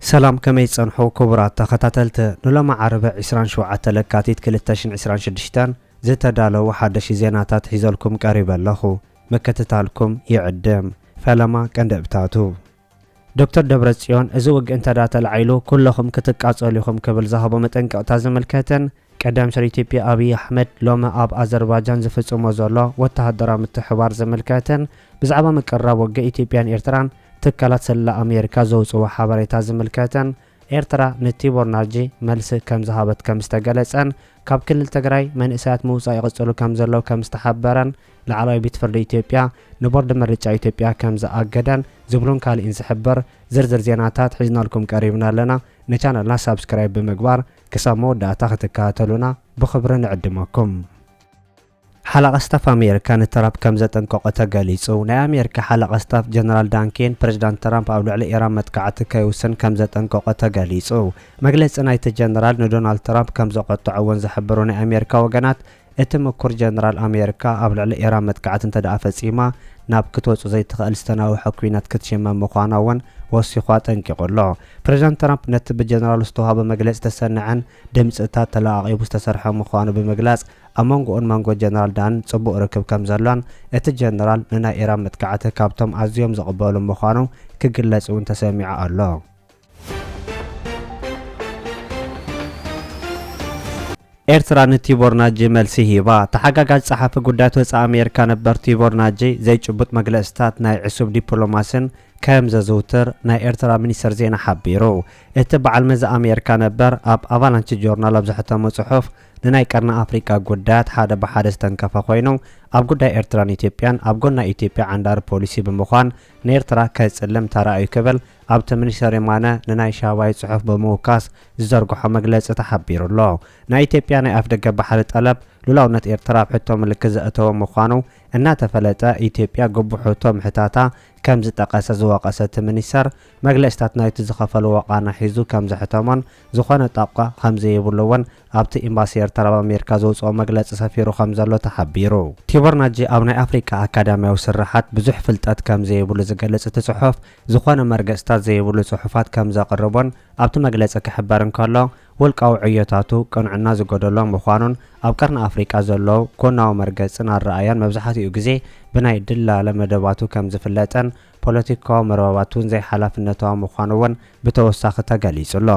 ሰላም ከመይ ትጸንሑ ክቡራት ተኸታተልቲ ንሎሚ ዓርበ ዕስራን ሸውዓተ ለካቲት ክልተ ሽን ዕስራን ሽድሽተን ዝተዳለዉ ሓደሽቲ ዜናታት ሒዘልኩም ቀሪበ ኣለኹ ምክትታልኩም ይዕድም። ፈለማ ቀንዲ እብታቱ። ዶክተር ደብረጽዮን እዚ ውግእ እንተድኣ ተላዒሉ ኩለኹም ክትቃጸሉ ኢኹም ክብል ዝሃቦ መጠንቀቕታ ዝምልከትን ቀዳም ሚኒስተር ኢትዮጵያ ኣብይ ኣሕመድ ሎሚ ኣብ ኣዘርባጃን ዝፍጽሞ ዘሎ ወተሃደራዊ ምትሕብባር ዝምልከትን ብዛዕባ ምቅርራብ ውግእ ኢትዮጵያን ኤርትራን ትካላት ስለላ ኣሜሪካ ዘውጽእዎ ሓበሬታ ዝምልከትን ኤርትራ ንቲቦር ናጂ መልሲ ከምዝሃበት ከምዝተገለጸን ካብ ክልል ትግራይ መንእሰያት ምውጻእ ይቕጽሉ ከምዘለዉ ከምዝተሓበረን ላዕለዋይ ቤት ፍርዲ ኢትዮጵያ ንቦርድ ምርጫ ኢትዮጵያ ከምዝኣገደን ዝብሉን ካልእን ዝሕብር ዝርዝር ዜናታት ሒዝናልኩም ቀሪብና ኣለና ንቻነልና ሳብስክራይብ ብምግባር ክሳብ መወዳእታ ክትከታተሉና ብኽብሪ ንዕድመኩም። ሓለቓ ስታፍ ኣሜሪካ ንትራፕ ከምዘጠንቀቖ ተገሊጹ። ናይ ኣሜሪካ ሓለቓ ስታፍ ጀነራል ዳን ኬን፣ ፕረዚዳንት ትራምፕ ኣብ ልዕሊ ኢራን መጥቃዕቲ ከይውስን ከምዘጠንቀቖ ተገሊጹ። መግለጺ ናይቲ ጀነራል ንዶናልድ ትራምፕ ከምዘቖጠዖ'ውን ዝሕብሩ ናይ ኣሜሪካ ወገናት፣ እቲ ምኩር ጀነራል ኣሜሪካ ኣብ ልዕሊ ኢራን መጥቃዕቲ እንተድኣ ፈጺማ ናብ ክትወጹ ዘይትኽእል ዝተናውሐ ኲናት ክትሽመም ምዃና'ውን ወሲኹ ኣጠንቂቑ ኣሎ። ፕረዚዳንት ትራምፕ ነቲ ብጀነራሉ ዝተዋህቦ መግለጺ ዝተሰነዐን ድምጽታት ተለቓቒቡ ዝተሰርሐን ምዃኑ ብምግላጽ ኣብ መንጎኡን መንጎ ጀነራል ዳንን ጽቡቕ ርክብ ከም ዘሎን፣ እቲ ጀነራል ንናይ ኢራን መጥቃዕቲ ካብቶም ኣዝዮም ዝቕበሉ ምዃኑ ክግለጽ እውን ተሰሚዑ ኣሎ። ኤርትራ ንቲቦር ናጂ መልሲ ሂባ። ተሓጋጋዚ ጸሓፊ ጉዳያት ወጻኢ ኣሜሪካ ነበር ቲቦር ናጂ፣ ዘይጭቡጥ መግለጺታት ናይ ዕሱብ ዲፕሎማሲን ከም ዘዝውትር ናይ ኤርትራ ሚኒስተር ዜና ሓቢሩ። እቲ በዓል መዚ ኣሜሪካ ነበር ኣብ ኣቫላንቺ ጆርናል ኣብ ዘሕተሞ ጽሑፍ፣ ንናይ ቀርኒ ኣፍሪቃ ጉዳያት ሓደ ብሓደ ዝተንከፈ ኮይኑ፣ ኣብ ጉዳይ ኤርትራን ኢትዮጵያን ኣብ ጎኒ ናይ ኢትዮጵያ ዓንዳሪ ፖሊሲ ብምዃን ንኤርትራ ከጽልም ተራእዩ ክብል ኣብቲ ሚኒስተር የማነ ንናይ ሻባይ ጽሑፍ ብምውካስ ዝዘርግሖ መግለጺ ተሓቢሩ ኣሎ። ናይ ኢትዮጵያ ናይ ኣፍደገ ባሕሪ ጠለብ ሉላውነት ኤርትራ ኣብ ሕቶ ምልክት ዘእተወ ምዃኑ እናተፈለጠ ኢትዮጵያ ግቡእ ሕቶ ምሕታታ ከምዝጠቐሰ ዝወቐሰ እቲ ሚኒስተር፣ መግለጺታት ናይቲ ዝኸፈልዎ ቃና ሒዙ ከምዘሕተሞን ዝኾነ ጣቋ ከም ዘይብሉ እውን ኣብቲ ኤምባሲ ኤርትራ ኣብ ኣሜሪካ ዘውጽኦ መግለጺ ሰፊሩ ከም ዘሎ ተሓቢሩ። ቲቦር ናጂ ኣብ ናይ ኣፍሪቃ ኣካዳምያዊ ስርሓት ብዙሕ ፍልጠት ከም ዘይብሉ ዝገልጽ እቲ ጽሑፍ፣ ዝኾነ መርገጽታት ዘይብሉ ጽሑፋት ከም ዘቕርቦን ኣብቲ መግለጺ ክሕበር እንከሎ ውልቃዊ ዕዮታቱ ቅንዕና ዝጎደሎ ምዃኑን ኣብ ቀርኒ ኣፍሪቃ ዘሎ ጎናዊ መርገጽን ኣረኣእያን መብዝሓትኡ ግዜ ብናይ ድላለ መደባቱ ከም ዝፍለጥን ፖለቲካዊ መርበባት እውን ዘይሓላፍነታዊ ምዃኑ እውን ብተወሳኺ ተገሊፁ ኣሎ።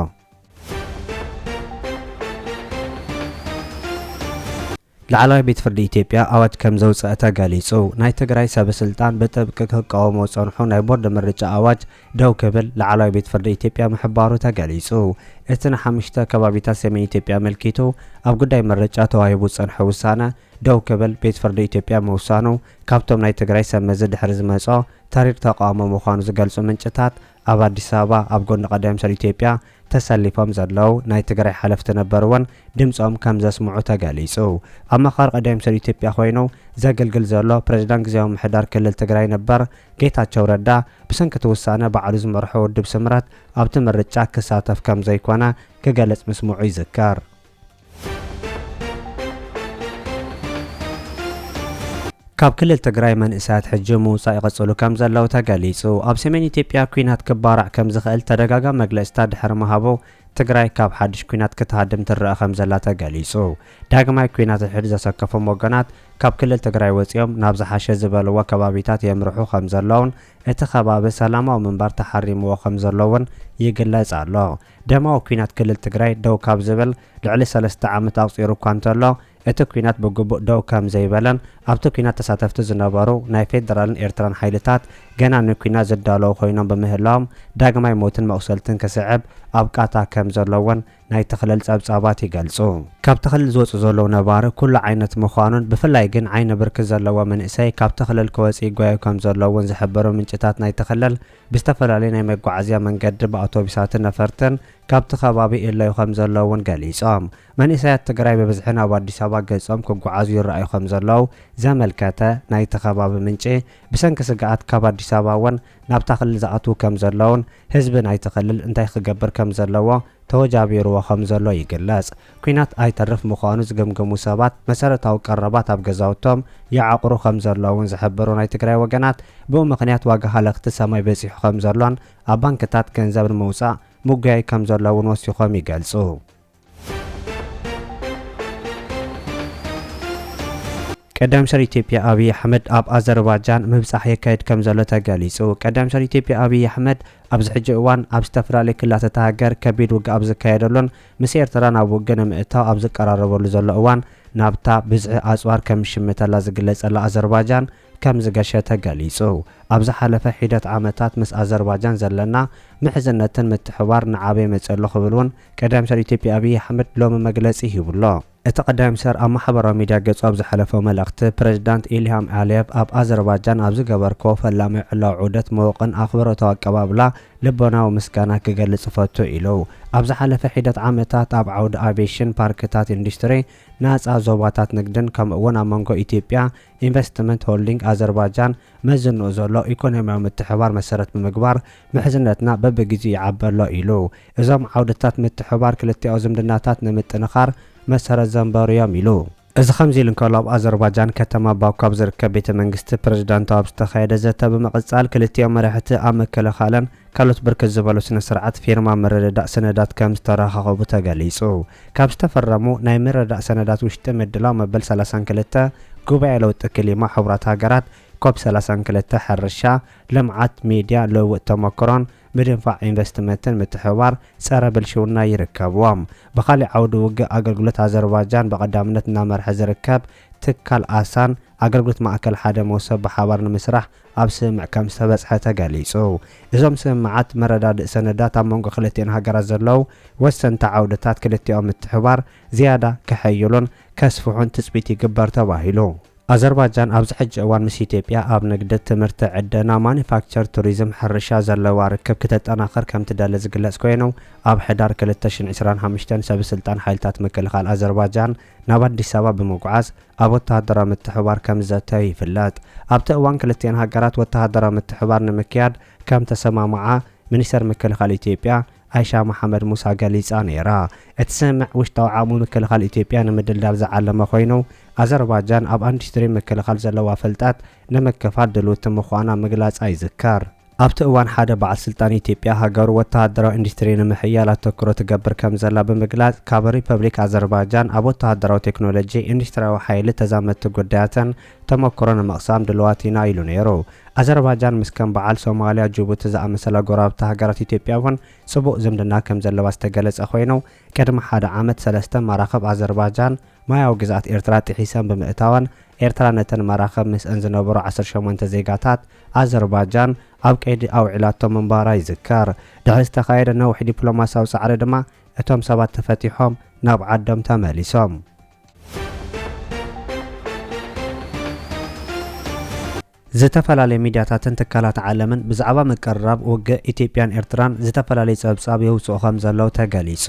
ላዕለዋይ ቤት ፍርዲ ኢትዮጵያ ኣዋጅ ከምዘውፀኣ ተገሊፁ። ናይ ትግራይ ሰበ ስልጣን ብጥብቂ ክቃወሞ ዝፀንሑ ናይ ቦርድ ምርጫ ኣዋጅ ደው ክብል ላዕለዋይ ቤት ፍርዲ ኢትዮጵያ ምሕባሩ ተገሊፁ። እቲ ንሓሙሽተ ከባቢታት ሰሜን ኢትዮጵያ ኣመልኪቱ ኣብ ጉዳይ ምርጫ ተዋሂቡ ዝፀንሐ ውሳነ፣ ደው ክብል ቤት ፍርዲ ኢትዮጵያ ምውሳኑ ካብቶም ናይ ትግራይ ሰብ መዚ ድሕሪ ዝመጽኦ ተሪር ተቓውሞ ምዃኑ ዝገልጹ ምንጭታት ኣብ ኣዲስ ኣበባ ኣብ ጎኒ ቀዳዮም ሰብ ኢትዮጵያ ተሰሊፎም ዘለዉ ናይ ትግራይ ሓለፍቲ ነበር'ውን ድምጾም ከም ዘስምዑ ተገሊጹ። ኣማኻሪ ቀዳዮም ሰብ ኢትዮጵያ ኮይኑ ዘግልግል ዘሎ ፕሬዚዳንት ግዝያዊ ምሕዳር ክልል ትግራይ ነበር ጌታቸው ረዳ ብሰንኪ እቲ ውሳነ ባዕሉ ዝመርሖ ውድብ ስምረት ኣብቲ ምርጫ ክሳተፍ ከም ዘይኮነ ክገልጽ ምስምዑ ይዝከር። ካብ ክልል ትግራይ መንእሰያት ሕጂ ምውጻእ ይቕጽሉ ከም ዘለዉ ተገሊጹ። ኣብ ሰሜን ኢትዮጵያ ኲናት ክባራዕ ከም ዝኽእል ተደጋጋሚ መግለጽታት ድሕሪ ምሃቡ ትግራይ ካብ ሓድሽ ኲናት ክትሃድም ትረኣ ከም ዘላ ተገሊጹ። ዳግማይ ኲናት ሕድሕድ ዘሰከፎም ወገናት ካብ ክልል ትግራይ ወጺኦም ናብ ዝሓሸ ዝበልዎ ከባቢታት የምርሑ ከም ዘለዉን እቲ ከባቢ ሰላማዊ ምንባር ተሓሪምዎ ከም ዘሎ'ውን ይግለጽ ኣሎ። ደማዊ ኲናት ክልል ትግራይ ደው ካብ ዝብል ልዕሊ ሰለስተ ዓመት ኣቑጺሩ እኳ እንተሎ፣ እቲ ኲናት ብግቡእ ደው ከም ዘይበለን ኣብቲ ኲናት ተሳተፍቲ ዝነበሩ ናይ ፌደራልን ኤርትራን ሓይልታት ገና ንኲናት ዝዳለዉ ኮይኖም ብምህላዎም ዳግማይ ሞትን መቑሰልትን ክስዕብ ኣብ ቃታ ከም ዘሎ'ውን ናይቲ ክልል ጸብጻባት ይገልጹ። ካብቲ ክልል ዝወጹ ዘለዉ ነባሪ ኩሉ ዓይነት ምዃኑን ብፍላይ ግን ዓይኒ ብርኪ ዘለዎ መንእሰይ ካብቲ ክልል ክወጽእ ይጓዩ ከም ዘሎ'ውን ዝሕብሩ ምንጭታት ናይቲ ክልል፣ ብዝተፈላለየ ናይ መጓዓዝያ መንገዲ ብኣውቶቢሳትን ነፈርትን ካብቲ ከባቢ ይእለዩ ከምዘለዉ እውን ገሊፆም። መንእሰያት ትግራይ ብብዝሒ ናብ ኣዲስ ኣበባ ገፆም ክጉዓዙ ይረኣዩ ከምዘለዉ ዘመልከተ ናይቲ ከባቢ ምንጪ፣ ብሰንኪ ስግኣት ካብ ኣዲስ ኣበባ እውን ናብታ ክልል ዝኣትዉ ከምዘለዉን ህዝቢ ናይቲ ክልል እንታይ ክገብር ከምዘለዎ ተወጃቢሩዎ ከምዘሎ ይግለፅ። ኲናት ኣይተርፍ ምዃኑ ዝገምገሙ ሰባት፣ መሰረታዊ ቀረባት ኣብ ገዛውቶም ይዓቑሩ ከም ዘለዉን ዝሕብሩ ናይ ትግራይ ወገናት፣ ብኡ ምኽንያት ዋጋ ሃለኽቲ ሰማይ በጺሑ ከም ዘሎን ኣብ ባንክታት ገንዘብ ንምውጻእ ምጉያይ ከም ዘሎ'ውን ወሲኾም ይገልጹ። ቀዳማይ ሚኒስተር ኢትዮጵያ ኣብይ ኣሕመድ ኣብ ኣዘርባጃን ምብጻሕ የካይድ ከምዘሎ ተገሊጹ። ቀዳማይ ሚኒስተር ኢትዮጵያ ኣብይ ኣሕመድ ኣብዚ ሕጂ እዋን ኣብ ዝተፈላለዩ ክልላት እታ ሃገር ከቢድ ውግእ ኣብ ዝካየደሉን ምስ ኤርትራ ናብ ውግእ ንምእታው ኣብ ዝቀራረበሉ ዘሎ እዋን ናብታ ብዝሒ ኣጽዋር ከም ዝሽምተላ ዝግለጸላ ኣዘርባጃን ከም ዝገሸ ተገሊጹ። ኣብ ዝሓለፈ ሒደት ዓመታት ምስ ኣዘርባጃን ዘለና ምሕዝነትን ምትሕብባር እናዓበየ መጺኡ ኣሎ ክብል እውን ቀዳማይ ሚኒስተር ኢትዮጵያ ኣብይ ኣሕመድ ሎሚ መግለጺ ሂቡ'ሎ። እቲ ቀዳማይ ሚኒስተር ኣብ ማሕበራዊ ሚድያ ገጹ ኣብ ዝሐለፎ መልእኽቲ፣ ፕረዚዳንት ኢልሃም ኣልየቭ ኣብ ኣዘርባጃን ኣብ ዝገበርክዎ ፈላማይ ዕላዊ ዑደት ምዉቕን ኣኽብሮታዊ ኣቀባብላ ልቦናዊ ምስጋና ክገልጽ እፈቱ ኢሉ። ኣብ ዝሓለፈ ሒደት ዓመታት ኣብ ዓውዲ ኣቪየሽን፣ ፓርክታት ኢንዱስትሪ፣ ናጻ ዞባታት ንግድን ከምኡ'ውን ኣብ መንጎ ኢትዮጵያ ኢንቨስትመንት ሆልዲንግ ኣዘርባጃን መዝንኡ ዘሎ ኢኮኖሚያዊ ምትሕብባር መሰረት ብምግባር ምሕዝነትና በብግዜኡ ይዓቢ ኣሎ ኢሉ። እዞም ዓውድታት ምትሕብባር ክልቲኣዊ ዝምድናታት ንምጥንኻር መሰረት ዘንበሩ'ዮም ኢሉ። እዚ ከምዚ ኢሉ እንከሎ ኣብ ኣዘርባጃን ከተማ ባኩ ኣብ ዝርከብ ቤተ መንግስቲ ፕረዚዳንት ኣብ ዝተኻየደ ዘተ ብምቕጻል ክልቲኦም መራሕቲ ኣብ ምክልኻልን ካልኦት ብርክት ዝበሉ ስነ ስርዓት ፊርማ ምርድዳእ ሰነዳት ከምዝተራኻኸቡ ተገሊጹ። ካብ ዝተፈረሙ ናይ ምርድዳእ ሰነዳት ውሽጢ ምድላው መበል ሰላሳን ክልተ ጉባኤ ለውጢ ክሊማ ሕቡራት ሃገራት፣ ኮፕ ሰላሳን ክልተ፣ ሕርሻ፣ ልምዓት፣ ሚድያ፣ ልውውጥ ተሞክሮን ምድንፋዕ ኢንቨስትመንትን ምትሕብባር ፀረ ብልሽውና ይርከብዎም። ብኻሊእ ዓውዲ ውግእ ኣገልግሎት ኣዘርባጃን ብቐዳምነት እናመርሐ ዝርከብ ትካል ኣሳን ኣገልግሎት ማእከል ሓደ መውሰብ ብሓባር ንምስራሕ ኣብ ስምምዕ ከምዝተበፅሐ ተገሊፁ። እዞም ስምምዓት መረዳድእ ሰነዳት ኣብ መንጎ ክልቲኤን ሃገራት ዘለው ወሰንቲ ዓውድታት ክልቲኦም ምትሕብባር ዝያዳ ከሐይሉን ከስፍሑን ትፅቢት ይግበር ተባሂሉ። ኣዘርባጃን ኣብዚ ሕጂ እዋን ምስ ኢትዮጵያ ኣብ ንግዲ፣ ትምህርቲ፣ ዕደና፣ ማኑፋክቸር፣ ቱሪዝም፣ ሕርሻ ዘለዋ ርክብ ክተጠናኽር ከምትደሊ ዝግለጽ ኮይኑ፣ ኣብ ሕዳር ክልተ ሽሕን ዕስራን ሓሙሽተን ሰብስልጣን ሓይልታት ምክልኻል ኣዘርባጃን ናብ ኣዲስ ኣበባ ብምጉዓዝ ኣብ ወተሃደራዊ ምትሕብባር ከምዘተዩ ይፍለጥ። ኣብቲ እዋን ክልቲኤን ሃገራት ወተሃደራዊ ምትሕብባር ንምክያድ ከምተሰማምዓ ሚኒስተር ምክልኻል ኢትዮጵያ ኣይሻ መሓመድ ሙሳ ገሊጻ ነይራ። እቲ ስምምዕ ውሽጣዊ ዓቕሚ ምክልኻል ኢትዮጵያ ንምድልዳል ዝዓለመ ኮይኑ፣ ኣዘርባጃን ኣብ ኢንዱስትሪ ምክልኻል ዘለዋ ፍልጠት ንምክፋል ድልውቲ ምዃና ምግላጻ ይዝከር። ኣብቲ እዋን ሓደ በዓል ስልጣን ኢትዮጵያ ሃገሩ ወተሃደራዊ ኢንዱስትሪ ንምሕያል ኣተኩሮ ትገብር ከምዘላ ብምግላጽ ካብ ሪፐብሊክ ኣዘርባጃን ኣብ ወተሃደራዊ ቴክኖሎጂ፣ ኢንዱስትሪያዊ ሓይሊ ተዛመድቲ ጉዳያትን ተመክሮ ንምቕሳም ድሉዋት ኢና ኢሉ ነይሩ። ኣዘርባጃን ምስ ከም በዓል ሶማልያ፣ ጅቡቲ ዝኣመሰላ ጎረባብቲ ሃገራት ኢትዮጵያ እውን ፅቡቕ ዝምድና ከም ዘለዋ ዝተገለፀ ኮይኑ፣ ቅድሚ ሓደ ዓመት ሰለስተ መራኽብ ኣዘርባጃን ማያዊ ግዝኣት ኤርትራ ጥሒሰን ብምእታወን ኤርትራ ነተን መራኽብ ምስእን ዝነበሩ ዓሰርተ ሸሞንተ ዜጋታት ኣዘርባጃን ኣብ ቀይዲ ኣውዒላቶ ምንባራ ይዝከር። ድሕሪ ዝተኻየደ ነዊሕ ዲፕሎማሲያዊ ፃዕሪ ድማ እቶም ሰባት ተፈቲሖም ናብ ዓዶም ተመሊሶም። ዝተፈላለያ ሚድያታትን ትካላት ዓለምን ብዛዕባ ምቅርራብ ውግእ ኢትዮጵያን ኤርትራን ዝተፈላለየ ፀብፃብ የውፅኡ ከምዘለዉ ተገሊፁ።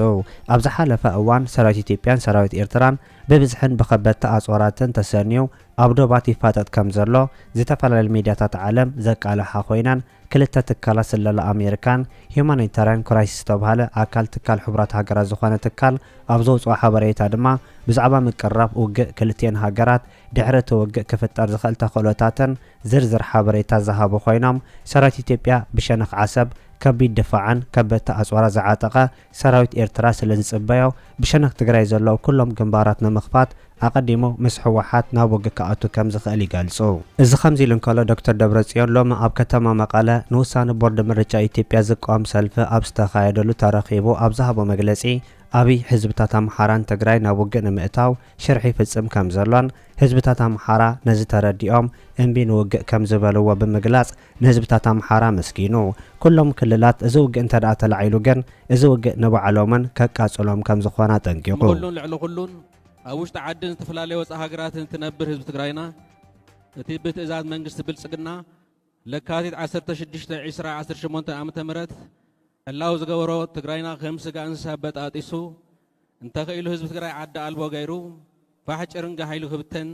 ኣብ ዝሓለፈ እዋን ሰራዊት ኢትዮጵያን ሰራዊት ኤርትራን ብብዝሕን ብኸበድቲ ኣፅዋራትን ተሰንዩ ኣብ ዶባት ይፋጠጥ ከምዘሎ ዝተፈላለያ ሚድያታት ዓለም ዘቃልሓ ኮይነን ክልተ ትካላት ስለላ ኣሜሪካን ሂዩማኒታርያን ክራይሲስ ዝተብሃለ ኣካል ትካል ሕቡራት ሃገራት ዝኾነ ትካል ኣብ ዘውጽኦ ሓበሬታ ድማ ብዛዕባ ምቅርራብ ውግእ ክልቲኤን ሃገራት ድሕሪ እቲ ውግእ ክፍጠር ዝኽእል ተኽእሎታትን ዝርዝር ሓበሬታ ዝሃቡ ኮይኖም ሰራዊት ኢትዮጵያ ብሸነኽ ዓሰብ ከቢድ ድፋዕን ከበድቲ ኣጽዋራት ዝዓጠቐ ሰራዊት ኤርትራ ስለ ዝጽበዮ ብሸነኽ ትግራይ ዘለዉ ኩሎም ግንባራት ንምኽፋት ኣቐዲሙ ምስ ህወሓት ናብ ውግእ ክኣቱ ከም ዝኽእል ይገልጹ። እዚ ከምዚ ኢሉ እንከሎ ዶክተር ደብረጽዮን ሎሚ ኣብ ከተማ መቐለ ንውሳነ ቦርድ ምርጫ ኢትዮጵያ ዝቃወም ሰልፊ ኣብ ዝተኻየደሉ ተረኺቡ ኣብ ዝሃቦ መግለጺ ኣብይ ህዝብታት ኣምሓራን ትግራይ ናብ ውግእ ንምእታው ሽርሒ ይፍጽም ከም ዘሎን ህዝብታት ኣምሓራ ነዚ ተረዲኦም እምቢ ንውግእ ከም ዝበልዎ ብምግላጽ ንህዝብታት ኣምሓራ መስጊኑ። ኩሎም ክልላት እዚ ውግእ እንተድኣ ተላዒሉ ግን እዚ ውግእ ንባዕሎምን ከቃጽሎም ከም ዝኾነ ኣጠንቂቑ። ንኹሉን ልዕሊ ኩሉን ኣብ ውሽጢ ዓድን ዝተፈላለየ ወፃኢ ሃገራትን እትነብር ህዝቢ ትግራይና እቲ ብትእዛዝ መንግስቲ ብልፅግና ለካቲት ዓሰርተ ሽዱሽተ ዕስራ ዓሰርተ ሸሞንተ ዓመተ ምህረት ዕላዊ ዝገበሮ ትግራይና ከም ስጋ እንስሳ በጣጢሱ እንተኽኢሉ ህዝቢ ትግራይ ዓዲ ኣልቦ ገይሩ ፋሕ ጭርንግሕ ኢሉ ክብተን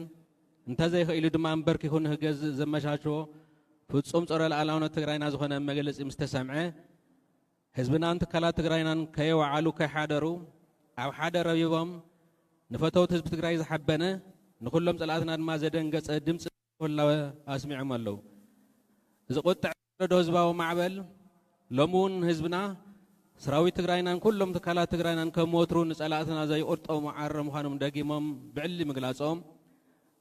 እንተዘይክኢሉ ድማ ኣንበርኪኹ ንክገዝእ ዘመቻችዎ ፍፁም ፀረ ልኣላውነት ትግራይና ዝኾነ መግለፂ ምስ ተሰምዐ ህዝብናን ትካላት ትግራይናን ከየወዓሉ ከይሓደሩ ኣብ ሓደ ረቢቦም ንፈተውት ህዝቢ ትግራይ ዝሓበነ ንኩሎም ፀላእትና ድማ ዘደንገፀ ድምፂ ህላወ ኣስሚዖም ኣለው። እዚ ቁጥዐ ወለዶ ህዝባዊ ማዕበል ሎሚ እውን ህዝብና፣ ስራዊት ትግራይናን ኩሎም ትካላት ትግራይናን ከም ወትሩ ንፀላእትና ዘይቕርጦ መዓረ ምዃኖም ደጊሞም ብዕሊ ምግላፆም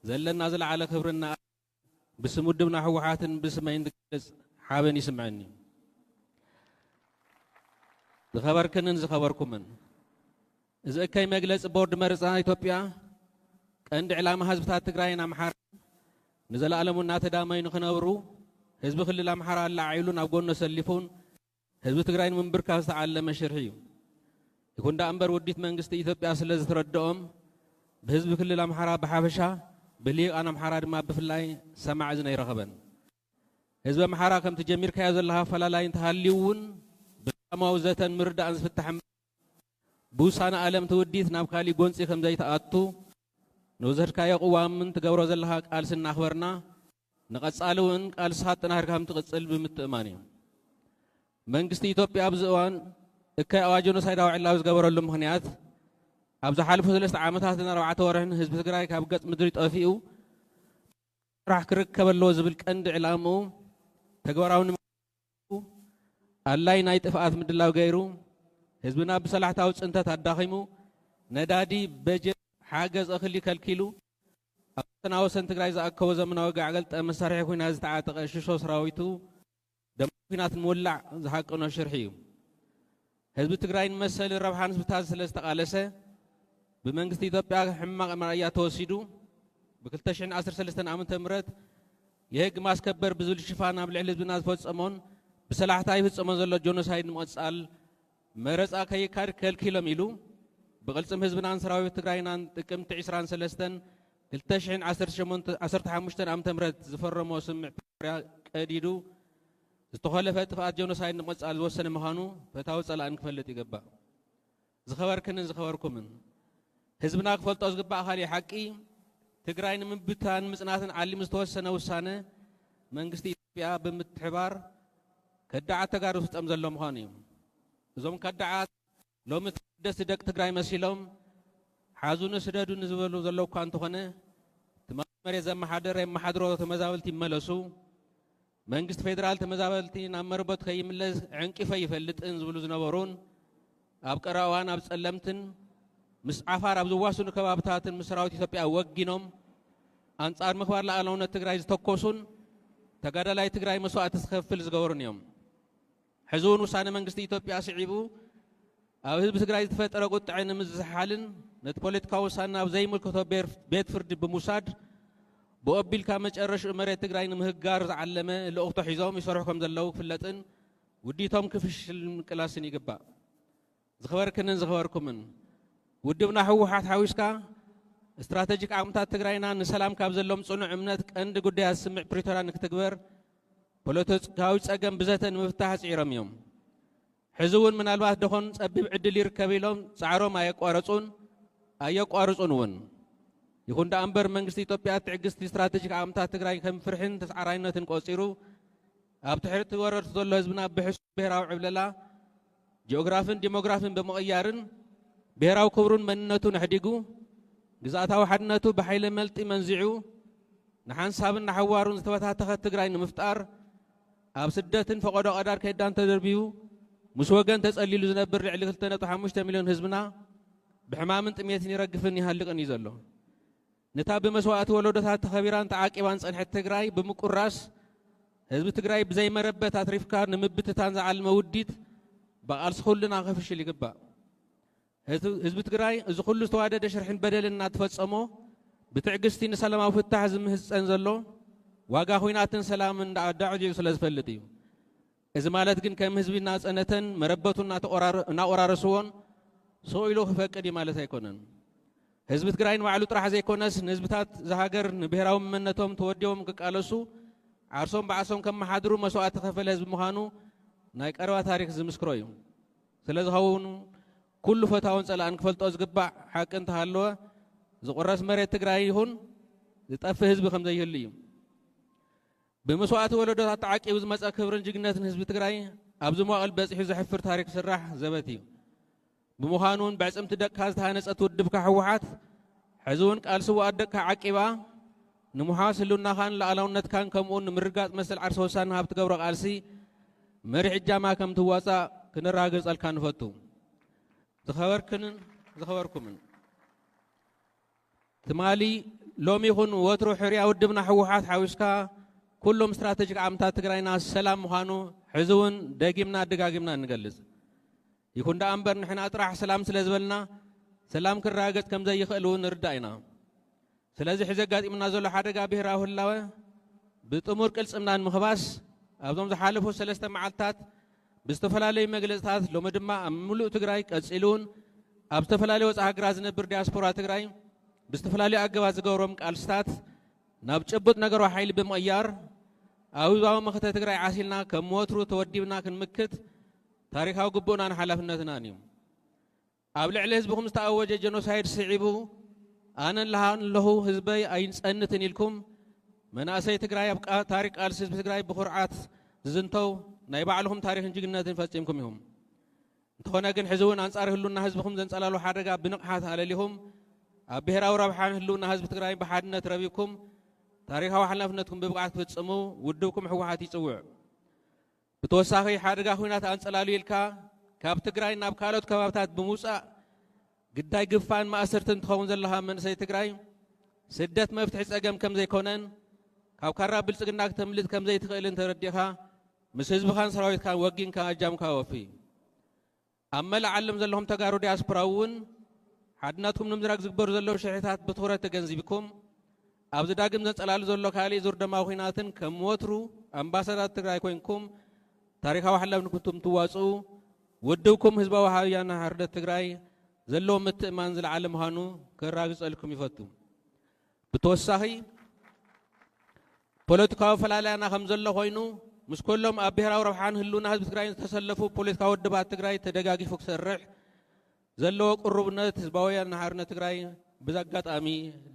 ዘለና ዝለዓለ ክብርን ንኣድናቖትን ብስም ውድብና ህወሓትን ብስመይን ዝገልፅ ሓበን ይስምዐኒ። ዝኸበርክንን ዝኸበርኩምን! እዚ እከይ መግለፂ ቦርድ መረፃ ኢትዮጵያ ቀንዲ ዕላማ ህዝብታት ትግራይን ኣምሓራን ንዘለኣለሙ እናተዳመዩ ንክነብሩ ህዝቢ ክልል ኣምሓራ ኣለዓዒሉን ኣብ ጎኑ ኣሰሊፉን ህዝቢ ትግራይ ንምንብርካኽ ዝተዓለመ ሽርሒ እዩ። ይኹን ደኣ እምበር ውዲት መንግስቲ ኢትዮጵያ ስለዝተረደኦም ብህዝቢ ክልል ኣምሓራ ብሓፈሻ ብልሂቃን ኣምሓራ ድማ ብፍላይ ሰማዒ እዝኒ ኣይረኸበን። ህዝቢ ኣምሓራ ከምቲ ጀሚርካዮ ዘለኻ ኣፈላላይ እንተሃልዩ እውን ብሰላማዊ ዘተን ምርዳእን ዝፍታሕ ብውሳነ ኣለም ትውዲት ናብ ካሊእ ጎንፂ ከምዘይትኣቱ ንወሰድካዮ ቅዋምን ትገብሮ ዘለኻ ቃልሲ እናኽበርና ንቐፃሊ እውን ቃልስኻ ኣጠናኺርካ ከምትቕፅል ብምትእምማን እዩ። መንግስቲ ኢትዮጵያ ኣብዚ እዋን እከይ ኣዋጅ ጆኖሳይዳዊ ዕላዊ ዝገበረሉ ምኽንያት ኣብ ዝሓለፉ ሰለስተ ዓመታትን ኣርባዕተ ወርሕን ህዝቢ ትግራይ ካብ ገፅ ምድሪ ጠፊኡ ጥራሕ ክርከብ ኣለዎ ዝብል ቀንዲ ዕላምኡ ተግባራዊ ዩ። ኣላይ ናይ ጥፍኣት ምድላው ገይሩ ህዝብና ብሰላሕታዊ ፅንተት ኣዳኺሙ፣ ነዳዲ፣ በጀት፣ ሓገዝ እኽሊ ከልኪሉ፣ ኣብ ወሰና ወሰን ትግራይ ዝኣከቦ ዘመናዊ ጋዕገልጠ መሳርሒ ኩናት ዝተዓጠቐ ሽሾ ስራዊቱ ደማዊ ኩናት ንምውላዕ ዝሃቀኖ ሽርሒ ዩ። ህዝቢ ትግራይ ንመሰልን ረብሓን ህዝብታት ስለ ዝተቓለሰ ብመንግስቲ ኢትዮጵያ ሕማቕ መርኣያ ተወሲዱ ብ ክልተ ሽሕን ዓሰርተ ሰለስተን ዓመተ ምህረት የህግ ማስከበር ብዝብል ሽፋን ኣብ ልዕሊ ህዝብና ዝፈጸሞን ብሰላሕታ ይፍጸሞ ዘሎ ጆኖሳይድ ንምቕጻል መረጻ ከይካድ ከልኪሎም ኢሉ ብቕልጽም ህዝብናን ሰራዊት ትግራይናን ጥቅምቲ ዕስራን ሰለስተን ክልተ ሽሕን ዓሰርተ ሸሞንተ ዓሰርተ ሓሙሽተን ዓመተ ምህረት ዝፈረሞ ስምምዕ ፕሪቶርያ ቀዲዱ ዝተኾለፈ ጥፍኣት ጀኖሳይድ ንምቕጻል ዝወሰነ ምዃኑ ፈታዊ ጸላእን ክፈልጥ ይግባእ። ዝኸበርክንን ዝኸበርኩምን፣ ህዝብና ክፈልጦ ዝግባእ ካሊእ ሓቂ፣ ትግራይ ንምብትታንን ምጽናትን ዓሊሙ ዝተወሰነ ውሳነ መንግስቲ ኢትዮጵያ ብምትሕብባር ከዳዓት ተጋሩ ዝፍጸም ዘሎ ምዃኑ እዩ። እዞም ከዳዓት። ሎሚ ተወደስቲ ደቂ ትግራይ መሲሎም ሓዙኒ ስደዱኒ ዝበሉ ዘለዉ እኳ እንተኾነ ትማሊ መሬት ዘመሓደረ የመሓድሮ ተመዛበልቲ ይመለሱ፣ መንግስቲ ፌደራል ተመዛበልቲ ናብ መረበቱ ከይምለስ ዕንቂፈ ኣይፈልጥን ዝብሉ ዝነበሩን ኣብ ቀረባ እዋን ኣብ ፀለምትን ምስ ዓፋር ኣብ ዝዋስኑ ከባብታትን ምስ ሰራዊት ኢትዮጵያ ወጊኖም ኣንጻር ምኽባር ሉኣላውነት ትግራይ ዝተኮሱን ተጋዳላይ ትግራይ መስዋእቲ ዝኸፍል ዝገበሩን እዮም። ሕዚ እውን ውሳነ መንግስቲ ኢትዮጵያ ስዒቡ ኣብ ህዝቢ ትግራይ ዝተፈጠረ ቁጥዐ ንምዝሕሓልን ነቲ ፖለቲካዊ ውሳነ ናብ ዘይምልከቶ ቤት ፍርዲ ብምውሳድ ብኡ ኣቢልካ መጨረሽኡ መሬት ትግራይ ንምህጋር ዝዓለመ ልእኽቶ ሒዞም ይሰርሑ ከም ዘለዉ ክፍለጥን ውዲቶም ክፍሽልን ምቅላስን ይግባእ። ዝኸበርክንን ዝኸበርኩምን፣ ውድብና ህወሓት ሓዊስካ ስትራተጂክ ዓቕምታት ትግራይና ንሰላም ካብ ዘሎም ፅኑዕ እምነት ቀንዲ ጉዳያት ስምምዕ ፕሪቶርያ ንክትግበር ፖለቲካዊ ፀገም ብዘተ ንምፍታሕ ፅዒሮም እዮም። ሕዚ እውን ምናልባት ደኾን ፀቢብ ዕድል ይርከብ ኢሎም ፃዕሮም ኣየቋረፁን ኣየቋርፁን እውን። ይኹን ደኣ እምበር መንግስቲ ኢትዮጵያ ትዕግስቲ ስትራቴጂክ ዓቕምታት ትግራይ ከም ፍርሕን ተስዓራይነትን ቆፂሩ ኣብ ትሕቲ ወረርቱ ዘሎ ህዝብና ብሕሱም ብሄራዊ ዕብለላ ጂኦግራፍን ዲሞግራፍን ብምቕያርን ብሄራዊ ክብሩን መንነቱን ኣሕዲጉ ግዝኣታዊ ሓድነቱ ብሓይለ መልጢ መንዚዑ ንሓንሳብን ንሓዋሩን ዝተበታተኸት ትግራይ ንምፍጣር ኣብ ስደትን ፈቐዶ ቀዳር ከዳን ተደርብዩ ምስ ወገን ተጸሊሉ ዝነብር ልዕሊ 2.5 ሚልዮን ህዝብና ብሕማምን ጥሜትን ይረግፍን ይሃልቕን እዩ ዘሎ። ነታ ብመስዋእቲ ወለዶታት ተኸቢራን ተዓቂባን ዝጸንሐት ትግራይ ብምቁራስ፣ ህዝቢ ትግራይ ብዘይመረበት ኣትሪፍካ ንምብትታን ዝዓልመ ውዲት ብቓልሲ ኩልና ከፍሽል ይግባእ። ህዝቢ ትግራይ እዚ ኩሉ ዝተዋደደ ሽርሕን በደልን እናተፈጸሞ ብትዕግስቲ ንሰላማዊ ፍታሕ ዝምህጸን ዘሎ ዋጋ ኩናትን ሰላምን ዳዕዳዕዲዑ ስለ ዝፈልጥ እዩ። እዚ ማለት ግን ከም ህዝቢ እናጸነተን መረበቱ እናቆራረስዎን ሰው ኢሉ ክፈቅድ እዩ ማለት ኣይኮነን። ህዝቢ ትግራይ ንባዕሉ ጥራሕ ዘይኮነስ ንህዝብታት እዛ ሃገር ንብሄራዊ መመነቶም ተወዲቦም ክቃለሱ ዓርሶም ብዓሶም ከመሓድሩ መስዋእቲ ከፈለ ህዝቢ ምዃኑ ናይ ቀረባ ታሪክ ዝምስክሮ እዩ። ስለዝኸውን ኩሉ ፈታውን ጸላእን ክፈልጦ ዝግባእ ሓቂ እንተሃለወ ዝቑረስ መሬት ትግራይ ይኹን ዝጠፍእ ህዝቢ ከምዘይህሉ እዩ። ብመስዋእቲ ወለዶታት ተዓቂቡ ዝመፀ ክብርን ጅግንነትን ህዝቢ ትግራይ ኣብዚ መዋእል በፂሑ ዘሕፍር ታሪክ ስራሕ ዘበት እዩ። ብምዃኑ እውን በዕፅምቲ ደቅካ ዝተሃነፀት ውድብካ ህወሓት ሕዚ እውን ቃል ስውኣት ደቅካ ዓቂባ ንምሓዝ ህልውናኻን ላኣላውነትካን ከምኡውን ንምርጋፅ መሰል ዓርሰ ወሳን ንሃብ ትገብሮ ቃልሲ መሪሕ እጃማ ከም ትዋፃእ ክነረጋግፀልካ ንፈቱ። ዝኸበርክንን ዝኸበርኩምን ትማሊ፣ ሎሚ ይኹን ወትሩ ሕርያ ውድብና ህወሓት ሓዊስካ ኩሎም ስትራተጂክ ዓምታት ትግራይና ሰላም ምዃኑ ሕዚ እውን ደጊምና ደጋጊምና ንገልፅ። ይኹን ደኣ እምበር ንሕና ጥራሕ ሰላም ስለ ዝበልና ሰላም ክረጋገፅ ከም ዘይኽእል እውን ንርዳእ ኢና። ስለዚ ሕዚ ኣጋጢሙና ዘሎ ሓደጋ ብሄራዊ ህላወ ብጥሙር ቅልፅምና ንምኽባስ ኣብዞም ዝሓለፉ ሰለስተ መዓልትታት ብዝተፈላለዩ መግለፅታት ሎሚ ድማ ኣብ ሙሉእ ትግራይ ቀፂሉ እውን ኣብ ዝተፈላለዩ ወፃኢ ሃገራት ዝነብር ዲያስፖራ ትግራይ ብዝተፈላለዩ ኣገባት ዝገብሮም ቃልስታት ናብ ጭቡጥ ነገሮ ሓይሊ ብምቕያር ኣብ ህዝባዊ መኸተ ትግራይ ዓሲልና ከም ወትሩ ተወዲብና ክንምክት ታሪካዊ ግቡእናን ሓላፍነትናን እዩ። ኣብ ልዕሊ ህዝብኹም ዝተኣወጀ ጀኖሳይድ ስዒቡ ኣነ ኣለኹ ህዝበይ ኣይንፀንትን ኢልኩም መናእሰይ ትግራይ ኣብ ታሪክ ቃልሲ ህዝቢ ትግራይ ብኩርዓት ዝዝንተው ናይ ባዕልኹም ታሪክን ጅግነትን ፈፂምኩም ኢኹም። እንተኾነ ግን ሕዚ እውን ኣንጻር ህሉና ህዝብኹም ዘንጸላሉ ሓደጋ ብንቕሓት ኣለሊኹም ኣብ ብሔራዊ ረብሓን ህልውና ህዝቢ ትግራይን ብሓድነት ረቢብኩም ታሪካዊ ሓላፍነትኩም ብብቕዓት ክትፍጽሙ ውድብኩም ህወሓት ይጽውዕ። ብተወሳኺ ሓደጋ ኹናት ኣንፀላልዩልካ ካብ ትግራይ ናብ ካልኦት ከባብታት ብምውፃእ ግዳይ ግፋን ማእሰርትን ትኸውን ዘለኻ መንእሰይ ትግራይ ስደት መፍትሒ ፀገም ከምዘይኮነን ካብ ካራ ብልፅግና ክተምልጥ ከምዘይትኽእልን ተረዲእኻ ምስ ህዝብኻን ሰራዊትካን ወጊንካ ኣጃምካ ወፊ ኣብ መላእ ዓለም ዘለኹም ተጋሩ ዲያስፖራ እውን ሓድነትኩም ንምዝራግ ዝግበሩ ዘለዉ ሽርሒታት ብትኹረት ተገንዚብኩም ኣብዚ ዳግም ዘንጸላሉ ዘሎ ካልእ ዙር ደማዊ ኩናትን ከም ወትሩ ኣምባሳዳት ትግራይ ኮይንኩም ታሪካዊ ሓላፍነትኩም ትዋጽኡ ውድብኩም ህዝባዊ ሃውያና ሓርነት ትግራይ ዘለዎ ምትእማን ዝለዓለ ምዃኑ ከራግጸልኩም ይፈቱ። ብተወሳኺ ፖለቲካዊ ፈላላያና ከምዘሎ ኮይኑ ምስ ኮሎም ኣብ ብሄራዊ ረብሓን ህልውና ህዝቢ ትግራይን ዝተሰለፉ ፖለቲካዊ ውድባት ትግራይ ተደጋጊፉ ክሰርሕ ዘለዎ ቅሩብነት ህዝባዊ ወያነ ሓርነት ትግራይ ብዛ ኣጋጣሚ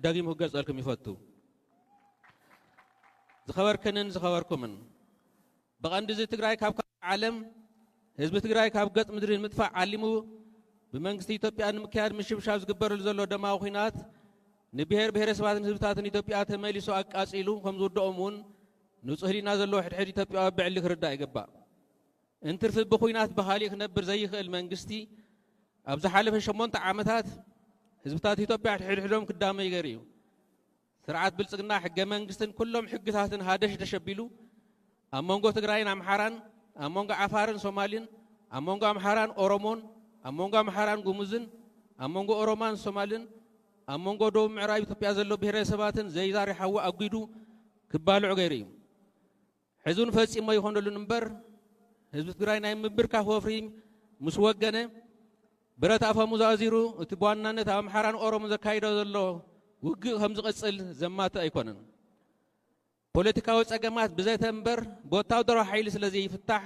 ደጊሙ ክገልጸልኩም ይፈቱ። ዝኸበርክንን ዝኸበርኩምን ብቐንዲ እዚ ትግራይ ካብ ካልእ ዓለም ህዝቢ ትግራይ ካብ ገፅ ምድሪ ንምጥፋእ ዓሊሙ ብመንግስቲ ኢትዮጵያ ንምክያድ ምሽብሻብ ዝግበረሉ ዘሎ ደማዊ ኹናት ንብሄር ብሄረሰባትን ህዝብታትን ኢትዮጵያ ተመሊሱ ኣቃፂሉ ከምዝውደኦም እውን ንፁህ ህሊና ዘለዎ ሕድሕድ ኢትዮጵያዊ ብዕሊ ክርዳእ ይግባእ። እንትርፊ ብኹናት ብኻሊእ ክነብር ዘይኽእል መንግስቲ ኣብ ዝሓለፈ ሸሞንተ ዓመታት ህዝብታት ኢትዮጵያ ሕድሕዶም ክዳመዩ ገይሩ እዩ። ስርዓት ብልፅግና ሕገ መንግስትን ኩሎም ሕግታትን ሃደሽደሽ ኣቢሉ ኣብ መንጎ ትግራይን ኣምሓራን፣ ኣብ መንጎ ዓፋርን ሶማልን፣ ኣብ መንጎ ኣምሓራን ኦሮሞን፣ ኣብ መንጎ ኣምሓራን ጉሙዝን፣ ኣብ መንጎ ኦሮማን ሶማልን፣ ኣብ መንጎ ደቡብ ምዕራብ ኢትዮጵያ ዘሎ ብሄረሰባትን ዘይዛሪ ሓዊ ኣጒዱ ክባልዑ ገይሩ እዩ። ሕዚ እውን ፈፂሙ ኣይኾነሉን እምበር ህዝቢ ትግራይ ናይ ምብርካኽ ወፍሪ ምስ ወገነ ብረት ኣፈሙዝ ኣዚሩ እቲ ብዋናነት ኣብ ኣምሓራን ኦሮሞን ዘካይዶ ዘሎ ውግእ ከም ዝቕፅል ዘማትእ ኣይኮነን። ፖለቲካዊ ፀገማት ብዘተ እምበር ብወታደራዊ ሓይሊ ስለ ዘይፍታሕ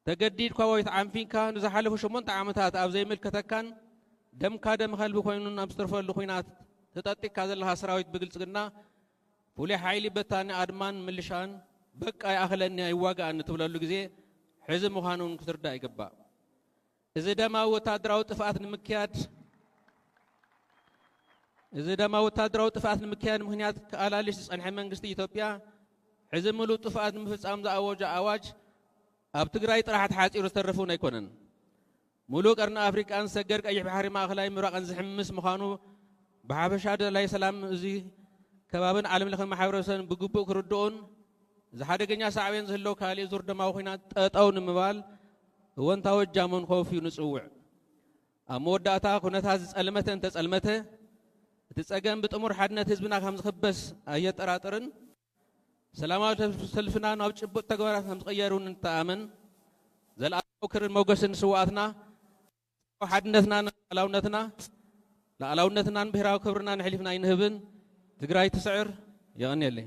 ተገዲድካ ወይ ተዓንፊንካ ንዝሓለፉ ሸሞንተ ዓመታት ኣብ ዘይምልከተካን ደምካ ደም ከልቢ ኮይኑን ኣብ ዝተርፈሉ ኩናት ተጠጢካ ዘለኻ ሰራዊት ብግልጽግና ፍሉይ ሓይሊ በታኒ ኣድማን ምልሻን በቃ ይኣኽለኒ ኣይዋጋእን እትብለሉ ግዜ ሕዚ ምዃኑን ክትርዳእ ይግባእ። እዚ ደማዊ ወታደራዊ ጥፍኣት ንምክያድ እዚ ደማዊ ወታደራዊ ጥፍኣት ንምክያድ ምክንያት ክኣላልሽ ዝጸንሐ መንግስቲ ኢትዮጵያ ሕዚ ምሉእ ጥፍኣት ንምፍጻም ዝኣወጆ ኣዋጅ ኣብ ትግራይ ጥራሕ ተሓጺሩ ዝተርፍ እውን ኣይኮነን። ምሉእ ቀርኒ ኣፍሪቃን ሰገር ቀይሕ ባሕሪ ማእከላይ ምብራቕን ዝሕምስ ምዃኑ ብሓፈሻ ደላይ ሰላም እዚ ከባብን ዓለም ለኸ ማሕበረሰብን ብግቡእ ክርድኡን እዚ ሓደገኛ ሳዕቤን ዝህልዎ ካልእ ዙር ደማዊ ኲናት ጠጠው ንምባል እወንታዊ እጃሞን ከወፍዩ ንጽውዕ። ኣብ መወዳእታ ኩነታት ዝጸልመተ እንተጸልመተ፣ እቲ ጸገም ብጥሙር ሓድነት ህዝብና ከም ዝኽበስ ኣየጠራጥርን። ሰላማዊ ሰልፍና ናብ ጭቡጥ ተግባራት ከም ዝቕየር እውን ንተኣመን። ዘልኣለማዊ ክርን ሞገስን ንስውኣትና! ጽምዶ ሓድነትናን ልኣላውነትና ልኣላውነትናን ብሄራዊ ክብርናን ኣሕሊፍና ኣይንህብን ትግራይ ትስዕር የቐንየለይ።